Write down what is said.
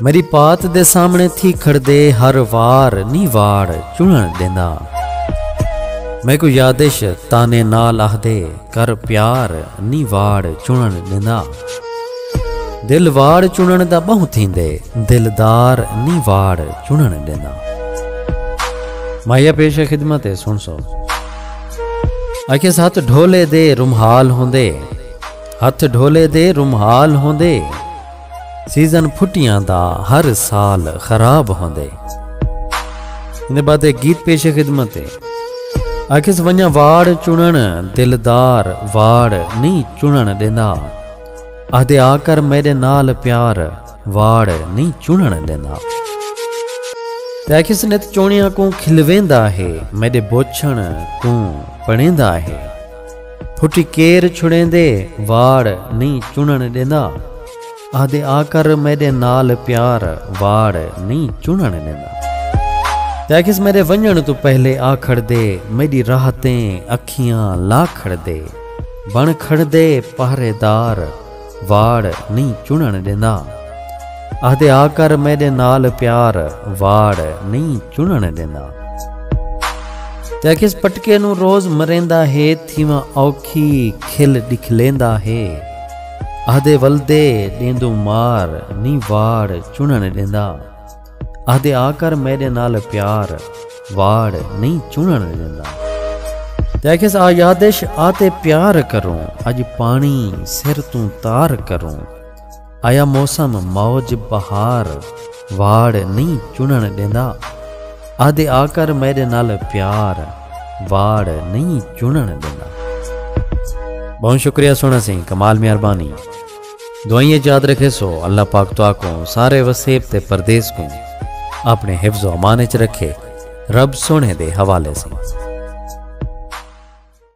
میری پات دے سامنے تھی کھڑدے ہر وار نی واڑ چنن ڈیندا میکو یادش تانے نال آہدے کر پیار نی واڑ چنن ڈیندا دل واڑ چنن دا بہوں تھیندے دلدار نی واڑ چنن ڈیندا مایا پیش خدمت ہے سن سو اکھے ساتھ ڈھولے دے رمحال ہوندے ہتھ ڈھولے دے رمحال ہوندے سیزن پھٹیاں دا ہر سال خراب ہوندے۔ ایندے بعد ایک گیت پیش خدمت ہے۔ آکھیس ونجاں واڑ چنڑن دلدار واڑ نہیں چنڑن ڈیندا۔ آہدے آکر میڈے نال پیار واڑ نہیں چنڑن ڈیندا۔ تے آکھیس نت چونڑیاں کوں کھلویندا ہے میڈے بوچھن کوں پڑھیندا ہے۔ پھٹی کیر چھڑیندے واڑ نئیں چنݨ ݙیندا آہدے آ کر میݙے نال پیار واڑ نئیں چنݨ ݙیندا تے آکھیس میݙے ونڄݨ توں پہلے آ کھڑدے میݙی راہ تیں اکھیاں لا کھڑدے بݨ کھڑدے پہرے دار واڑ نئیں چنݨ ݙیندا۔ آہدے آ کر میݙے نال پیار واڑ نئیں چنݨ ݙیندا۔ تے آکھیس پٹکے نوں روز مریندا ہے تھیواں اوکھی کھل ݙکھلیندا ہے۔ آہدے ولدے ݙیندوں مار نئیں واڑ چنݨ ݙیندا۔ آہدے آ کر میڈے نال پیار واڑ نہیں چنن ڈیندا۔ تے آکھیس آ یادش آ تے پیار کروں اج پانی سر توں تار کروں آیا موسم موج بہار واڑ نہیں چنن ڈیندا آہدے آ کر میڈے نال پیار واڑ نہیں چنن ڈیندا۔ بہوں شکریہ سونا سیں کمال مہربانی۔ دعائیں اچ یاد رکھیسو اللہ پاک تہاکوں سارے وسیب تے پردیس کوں اپݨے حفظ و امان اچ رکھے رب سوہݨے دے حوالے سئیں۔